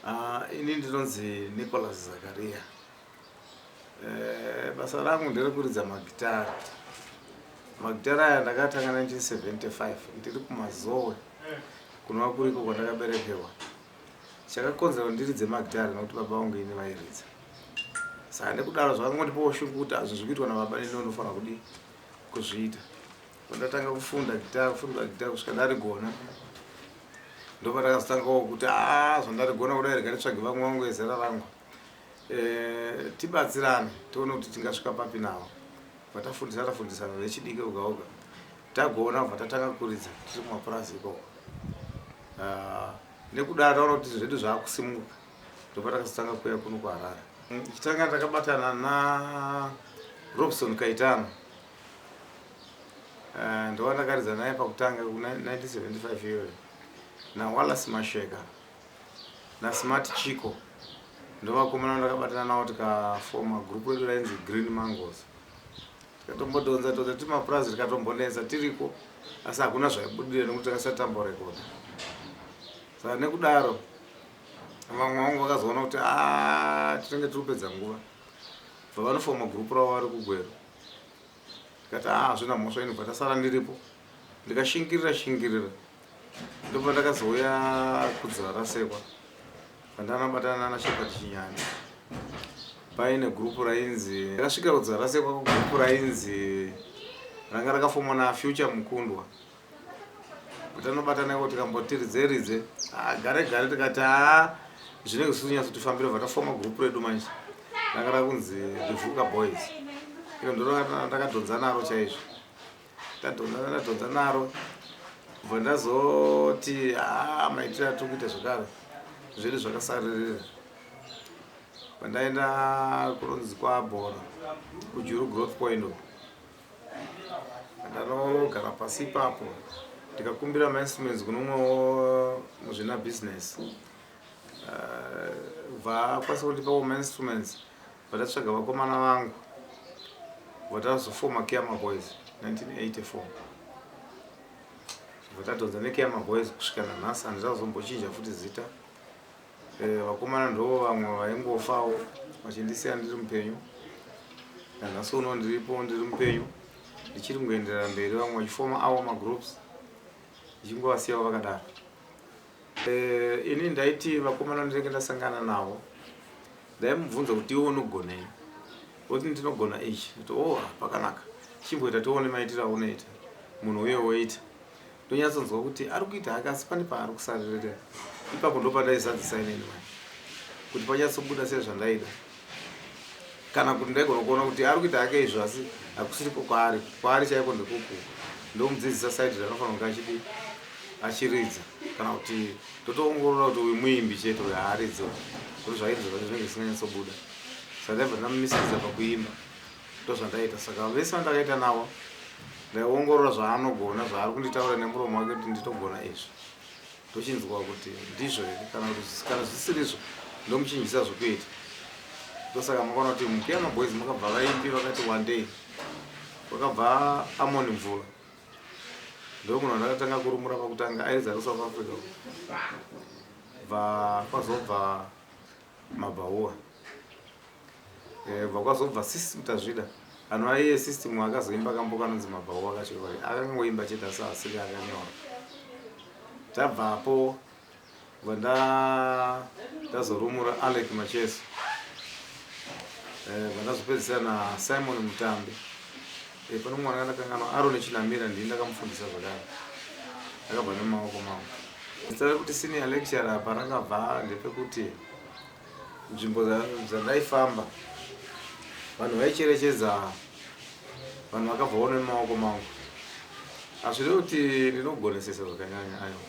Ah, ini ndinonzi Nicholas Zakaria. Eh, basa rangu nderekuridza magitara. Magitara aya ndakatanga 1975 ndiri kumazowe kunova kuriko kwandakaberekerwa. Chakakonzera kuti ndiridze magitara nekuti baba vangu ini vairidza. Saka nekudaro zvakangondipawo shungu kuti hazvo zviri kuitwa nababa neni ndofanira kudii kuzviita. ndatanga kufunda gita kufunda gita kusvika ndarigona ndopa ndakazotangawo kuti a ah, zvandarigona kudai rega nditsvage vamwe vangu ezera rangu eh, tibatsirane tione kuti tingasvika papi nawo vatafundisa tafundisana vechidiki oga oga tagona bva tatanga kuridza tiri kumapurazi ikoko ah, nekudaro taona kuti zvedu zvaakusimuka ndopa takazotanga kuya kuno kuharare chitanga takabatana na robson kaitano Eh, ndowandakaridza naye pakutanga ku 1975 iyoyo nawallace masheka nasmart chico ndovakomana ndakabatana navo tikafoma group redu rainzi green mangos tikatombodonza tonza tiri mapurazi tikatombonetsa tiriko asi hakuna zvaibudira nekuti takasati tamborekoda saka nekudaro vamwe vangu vakazoona kuti ah, tinenge tiri kupedza nguva bva vanofoma group ravo vari kugwero ndikati haa hazvina mhosva inobva ndasara ndiripo ndikashingirira shingirira ndobva ndakazouya kudzira rasekwa pandanabatana nana shepherd chinyani paine gurupu rainzi ndakasvika kudzira rasekwa kugurupu rainzi ranga rakafomwa nafuture mukundwa kuti anobatana iko tikamboti ridze ridze ah, gare gare tikati haa zvinenge zvisiri kunyatso tifambira bva tafoma group redu manje ranga rakunzi rivuka boys iro ndondakadhonza naro chaizvo tadhonza ndadhonza naro bva ndazoti haa ah, maitiro atiri kuita zvekare zviri zvakasaririra pandaenda kunonzi kwabhora kujuru growth point uko Ndanogara pasi ipapo ndikakumbira mainstruments kune umwe muzvina business bva eh, akwanisa kundipa mainstruments vatatsvaga vakomana vangu vatazofoma kiama boys 1984 vatadhonza nekiama boys kusvika nanhasi handizazombochinja futi zita Eh, vakomana ndo vamwe vaingofawo vachindisiya ndiri mupenyu nanhasi uno ndiripo ndiri mupenyu ndichiri kungoenderera mberi vamwe vachifoma awo magroups ndichingovasiyawo vakadaro eh, ini ndaiti vakomana ndinenge ndasangana navo ndaimubvunza kuti iwe unogonei oti ndinogona ichi ti o oh, pakanaka chimboita tione maitiro aunoita munhu uye woita ndonyatsonzwa kuti ari kuita hake asi pane paari kusaririra ipapo ndopandaizadzisa inini mani kuti panyatsobuda sezvandaida kana kuti ndaigona kuona kuti ari kuita hake izvo asi hakusiriko kwaari kwaari chaiko ndekuku ndomudzidzisa saidi ranofanira kunge achidi achiridza kana kuti totoongorora kuti uyu muimbi chete uyo haaridzi kuti zvairi zvinenge zvisinganyatsobuda saka ndaibva ndamumisikidza pakuimba Ndozvandaita saka vese vandakaita navo ndaiongorora zvaanogona zvaari kunditaura nemuromo wake kuti nditogona izvi ndochinzwa kuti ndizvo here kana kuti kana zvisirizvo ndomuchinjisa zvokuita ndosaka makaona kuti mukiya maboys makabva vaimbi vakati one day vakabva amoni mvura ndomunhu andakatanga kurumura pakutanga airidza kusouth africa bva kwazobva mabhaua eh, bva kwazobva sis mutazvida anhu aiye system akazoimba kambo kanonzi mabhaua kachiroi akangoimba chete asi asiri akanyora tabvapo bva ndazorumura alec macheso eh, bva ndazopedzisira nasimon mutambi Eh, pano mwana ndakanganwa Arone Chinamira ndini ndakamufundisa zvakare. Akabva nemaoko mambo. Zita rekuti senior lecturer apa rakabva ndepekuti nzvimbo dza- dzandaifamba vanhu vaicherechedza vanhu vakabva vone nemaoko mangu. Hazvirevi kuti ndinogonesesa zvakanyanya ayo.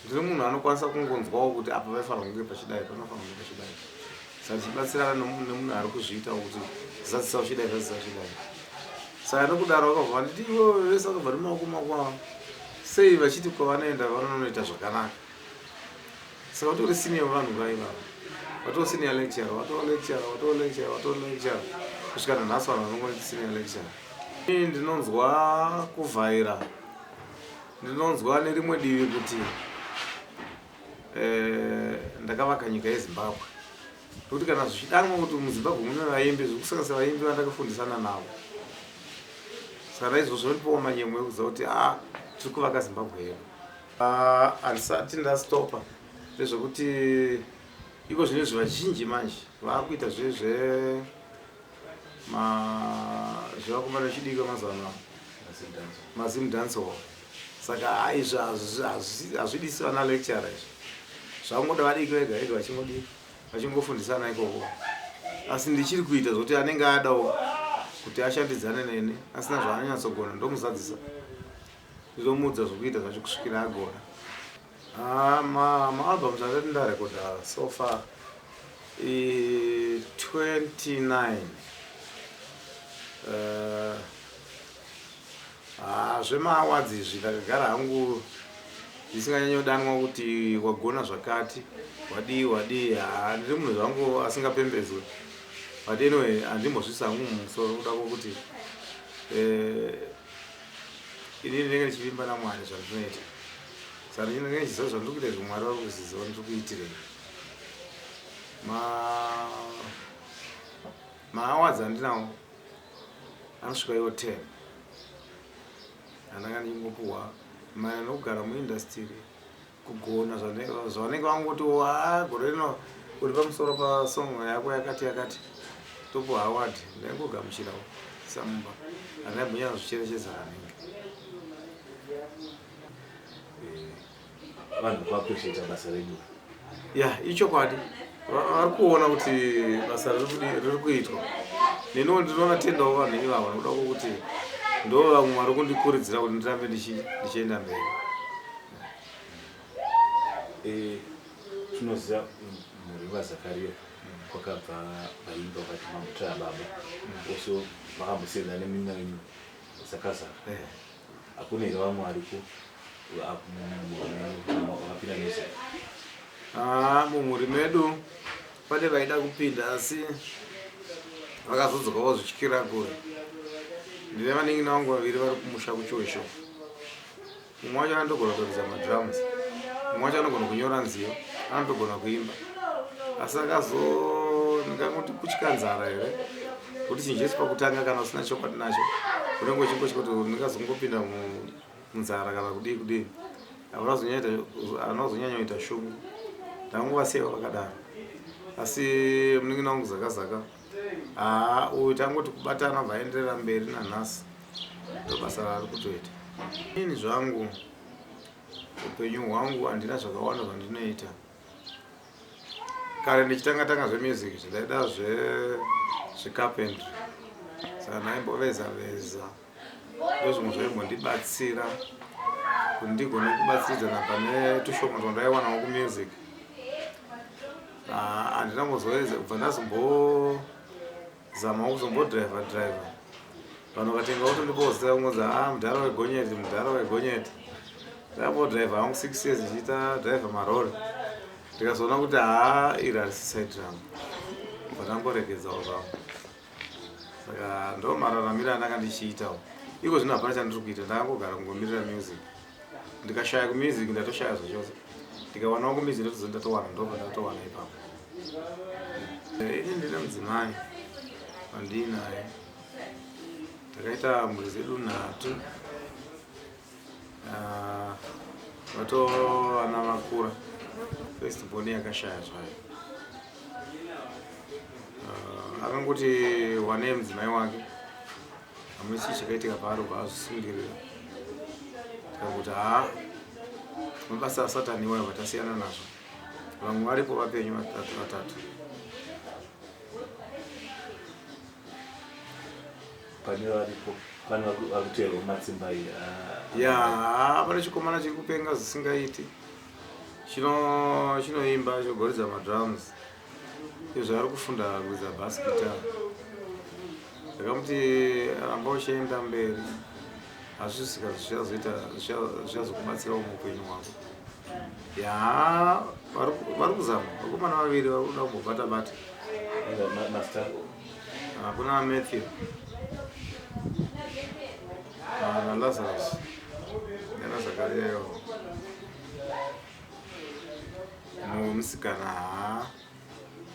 Ndiri munhu anokwanisa kungonzwawo kuti apa paifanira kunge pachidai panofanira kunge pachidai saka tichibatsirana nemunhu ari kuzviita kuti zazisa uchidai zazisa uchidai saka nokudaro vakabva vanditi ivo vese vakabva nemaoko makwavo sei vachiti kwavanoenda vanonoita zvakanaka saka vatori senior vanhu vaivavo vatoo senior lecture vatoo lecture vatoo lecture vatoo lecture kusvika nanhasi vanhu vanongoiti senior lecture ini ndinonzwa kuvhaira Ndinonzwa nerimwe divi kuti eh, ndakavaka nyika yezimbabwe nokuti kana zvichidanwa kuti muzimbabwe mune vaimbi zvekusanganisa vaimbi vandakafundisana navo saka naizvozvo ndotipawo manyemwe ekuziva kuti a ah, tiri kuvaka zimbabwe yedu ah, handisati ndastopa ndezvekuti iko zvino izvi vazhinji manje vaakuita zve zve Ma zvava kufana chidiki mazuva ano mazim dance hall saka haizvi hazvidisi vana lecturer izvi zvakungoda vadiki vega vega vachingodii vachingofundisana ikoko asi ndichiri kuita zvokuti anenge adawo kuti ashandidzane neni asina zvaanonyatsogona ndomuzadzisa ndizomuudza zvokuita zvacho kusvikira agona Ah, ma, ma albums andati ndarekoda so far i 29 uh, ah, zvemaawards izvi ndakagara hangu ndisinganyanyodanwa kuti wagona zvakati wadii wadii ah, ndiri munhu zvangu asingapembedzwe but anyway handimbozvisa hangu mumusoro kuda kwokuti eh, inini ndenge ndichivimba namwari zvandinoita Saka ndinenge ndichiziva zvandiri kuita izvo Mwari vari kuzviziva ndiri kuitirei. Ma maawazi andinawo anosvika iwo ten andanga ndichingopuhwa maererano nokugara muindastiri kugona zvavanenge vangoti wa gore rino uri pamusoro pasong yako yakati yakati topuhwa award ndaingogamuchirawo samumba andaimbonya zvicherechedza kanenge vanhu vakutochiita basa redu ya ichokwadi vari kuona kuti basa riri kuitwa neniwo ndinoona tendawo vanhu ivavo nokuda kwokuti ndo vamwe vari kundikuridzira kuti ndirambe ndichienda mberi eh, tinoziva mm, mhuri vazakariya kwakabva vaimba vati mamutaya baba oso vakambosiyana neminanyo Sakazara. Eh. Hakuna here vamwe variko vakapinda nese? Ah, mumhuri medu pane vaida kupinda asi vakazodzoka vozvityira kure. Ndine vanin'ina vangu vaviri vari kumusha kuchoisho. mumwe wacho anotogona kutoridza madrums mumwe wacho anogona kunyora nziyo anotogona kuimba asi akazo ndinganoti kutya nzara here kuti chinhu chese pakutanga kana usina chokwadi nacho unenge uchingotya kuti ndingazongopinda munzara kana kudii kudii anazonyanya kuita shungu ndanguvasiya vakadaro asi munin'ina wangu zakazaka haa uyu tangoti kubatana obva aenderera mberi nanhasi ndobasa raari kutoita ini zvangu upenyu hwangu handina zvakawanda zvandinoita kare ndichitanga tanga zvemusic zvidaida zvecarpentry saka ndaimboveza veza ndozvimwe zvaimbondibatsira kuti ndigone kubatsiridzana pane tushoma twandayiwanawo kumusic ah, handina kuzoedza kubva ndazombozamawo kuzombodriver driver vanhu vakatenga kuti ndibozita kungonzi a ah, mudhara wegonyeti mudhara wegonyeti ndambodriver hangu six years ndichiita driver marori ndikazoona kuti haa ah, iri harisi side rangu bva ndamboregedzawo zvangu saka ndo mararamiro andanga ndichiitawo iko zvino hapana chandiri kuita ndakangogara kungomirira music ndikashaya kumusic ndatoshaya zvachose ndikawanawo kumusic ndotozo ndatowana ndobva ndatowana ipapo eh, ini ndine mudzimai vandiinaye takaita mhuri zedu nhatu Ah, vato vana vakura first born yakashaya zvayo uh, akangoti wane mudzimai wake hamuna chii chakaitika paari ubva azvisungirira kakuti haa mabasa asatani iwayo vatasiyana nazvo vamwe varipo vapenyu vatatu vatatu pane varipo pane vakuteerwa mumatsimba iyi ah. ya pane chikomana chiri kupenga zvisingaiti chino chinoimba chogoridza madrums izvo ari kufunda kuridza bas guitar ndakamuti ramba uchienda mberi hazvisika zvichazoita zvichazokubatsirawo muupenyu hwako ya vari kuzama vakomana vaviri vari kuda kumbobata bata Ah, kuna Matthew. Ah, na Lazarus. Yana Zakaria yo. No msikana ha.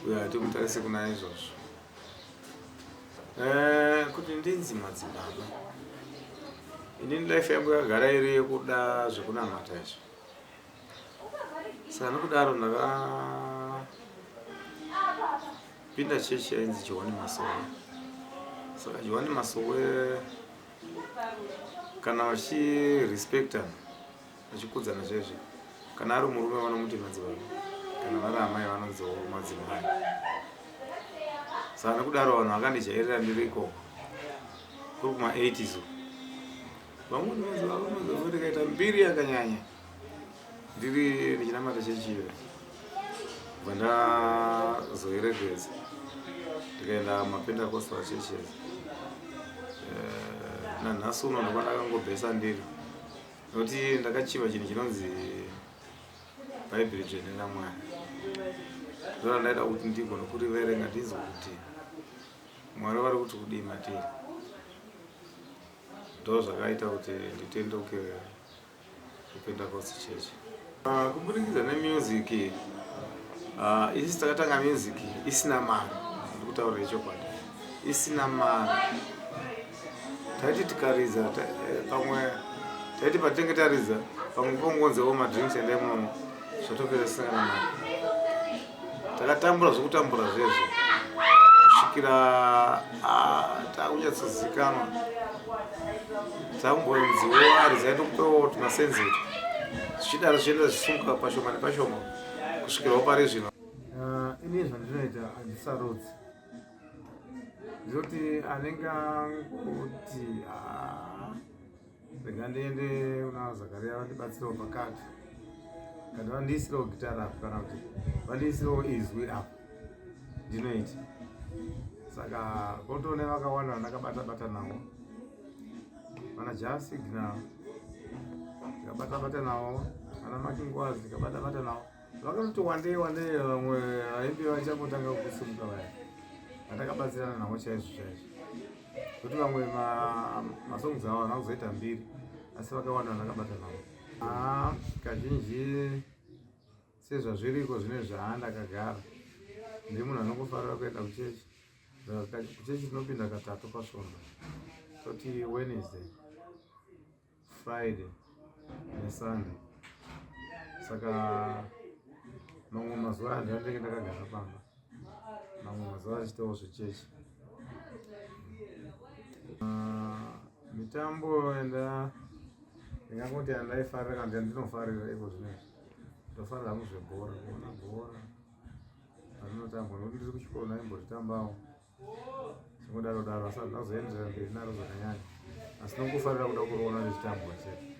Uyo atomutarise kuna izvozvo. Eh, kuti ndinzi madzibaba. Ini life yangu yagara iri yekuda zvekunamata izvo. saka nokudaro ndakapinda chechi yainzi johani masowe saka johani masowe kana vachirespectana vachikudzana zvezve kana ari murume vanomuti madzibaba kana vari amai vanonziwo madzimai saka nokudaro vanhu vakandijairira ndiri ikoko kuri kuma 80s vamweni vanzi varume zvakuti kaita mbiri yakanyanya ndiri ndichinamata chechi iyo bva ndazoerekedza ndikaenda mapentacostal churches Eh, nanhasi uno ndova ndakangobhesa ndiri nokuti ndakachiva chinhu chinonzi bhaibheri dzvene ramwari ndora ndaida kuti ndigone kuriverenga ndinzwe kuti mwari vari kuti kudii matiri ndo zvakaita kuti nditendeuke kupentecost church ah, kuburikidza nemusic ah, isi takatanga music isina mari ndi kutaura ichokwadi isina mari taiti tikaridza eh, pamwe taiti patinenge taridza pamwe pongonzewo madrinks endai munomo zvatopera tisina kana mari takatambura zvekutambura zvezvo kusvikira ah, takunyatsozikanwa takumboziwari zaitokutowo tumasenzito zvichidaro zvichienda zvichisunguka pashoma nepashoma kusvikirawo pari zvino ah, ini zvandinoita handisarudzi zoti anenge anguti ah, Rega ndiende kuna Zakaria vandibatsirewo pakati. Kana vandiisirewo gitara apo kana kuti vandiisirewo izwi apo. Ndinoita. Saka kotone vakawanda vandakabata bata navo. Vana Jasi Ginal. Ndikabata bata navo. Vana Makingwazi ndikabata bata navo. Vakatoti wandei wandei vamwe vaimbi vachangotanga kusimuka vaya. Vandakabatsirana navo chaizvo chaizvo. kuti vamwe masongs avo havana kuzoita mbiri asi vakawanda vanakabata navo ah, kazhinji sezvazviriko zvine zvaanda kagara ndi munhu anokufarira kuenda kuchechi kuchechi tinopinda katatu pasvondo toti wednesday Friday neSunday saka mamwe mazuva aya ndandenge ndakagara pamba mamwe mazuva achitawo zvechechi ah, mitambo enda ndingangoti andaifarira kana kuti andinofarira iko zvinezvi ndofarira hangu zvebhora kuona bhora arinotambwa nokuti ndiri kuchikoro ndaimbotitambawo zvingodaro daro asi azoenderera mberi naro zvakanyanya asi nokufarira kuda kuroona nezvitambwa chete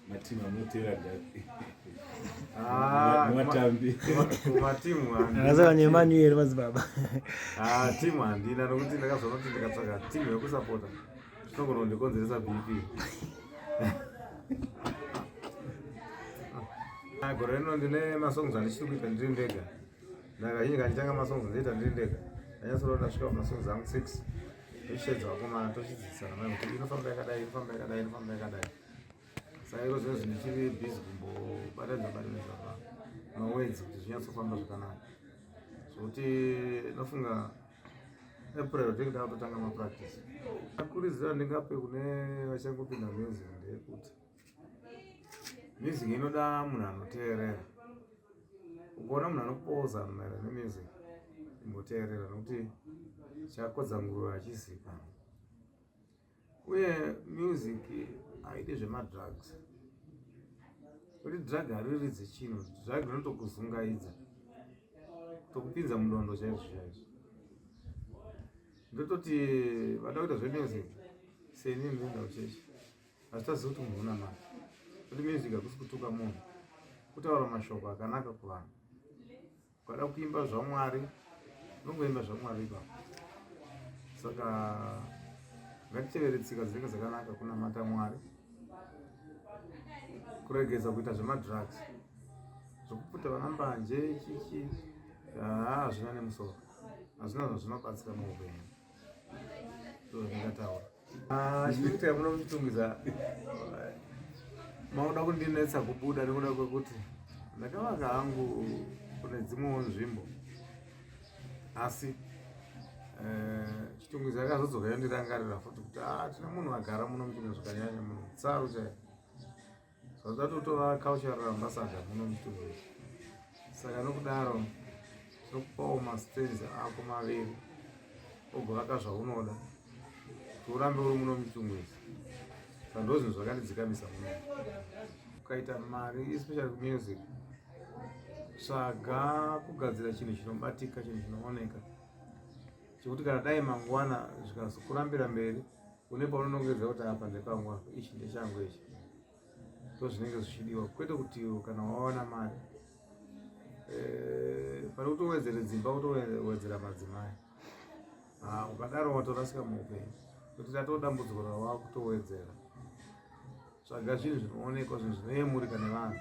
matimu anotera daimatambikumatimu akasakanyemanuyeri madzibaba ah, timu handina nokuti ndakazoona kuti ndikatsvaka timu yekusapota zvinogona kundikonzeresa bp ah, gore rino ndine masongs andichiri kuita ndiri ndega ndakazhinji kanditanga masongs ndoita ndiri ndega ndanyatsoona ndasvika pamasongs angu six tochitedza vakomana tochidzidzisana mai kuti inofamba yakadai inofamba yakadai inofamba yakadai saka iro zvinhu zvindichiri busy kumbobatanidza batanidza pa mawedzi kuti zvinyatsofamba zvakanaka zvokuti nofunga april ndenge ndakutotanga mapractice akuridzira ndingape kune vachangopinda music ndeyekuti music inoda munhu anoteerera ukaona munhu anopoza maererano nemusic imboteerera nokuti chakodza nguruve hachizikanwa uye music haidi zvemadrugs kuti drug hariridzi chinhu drug rinotokuzungaidza tokupinza mudondo chaizvo chaizvo ndototi vada kuita zvemusic seni ndinda kuchechi asi taziva kuti munhu una mari kuti music hakusi kutuka munhu kutaura mashoko akanaka kuvanhu ukada kuimba zvamwari unongoimba zvamwari ipapo saka ngatitevere tsika dzinenge dzakanaka kunamata mwari kuregedza kuita zvemadrugs zvekuputa vana mbanje chichi haa hazvina nemusoro hazvina zvazvinobatsira muupenyu ndataura ah, chikuita munomutungidza makuda kundinetsa kubuda nekuda kwekuti ndakavaka hangu kune dzimwewo nzvimbo asi eh, chitungwiza akazodzoka yondirangarira futi kuti ah, tine munhu agara muno muchimwe zvakanyanya munhu tsaru chaiyo Zvazvatotora cultural ambassador muno mutundu. Saka nokudaro tokupawo mastands ako maviri ogovaka zvaunoda kuti urambe uri muno mutundu izvi. Saka ndozvinhu zvakandidzikamisa muno. Ukaita mari especially kumusic tsvaga kugadzira chinhu chinobatika chinhu chinooneka chekuti kana dai mangwana zvikazokurambira mberi une paunonongedza kuti apa ndepangu apa ichi ndechangu ichi ndo zvinenge zvichidiwa kwete kuti kana wawana mari eh, pane kutowedzere dzimba kutowedzera madzimai ah, ukadaro watorasika muupenyu kuti tatoo dambudziko rawaa kutowedzera tsvaga zvinhu zvinoonekwa zvinhu zvinoyemurika nevanhu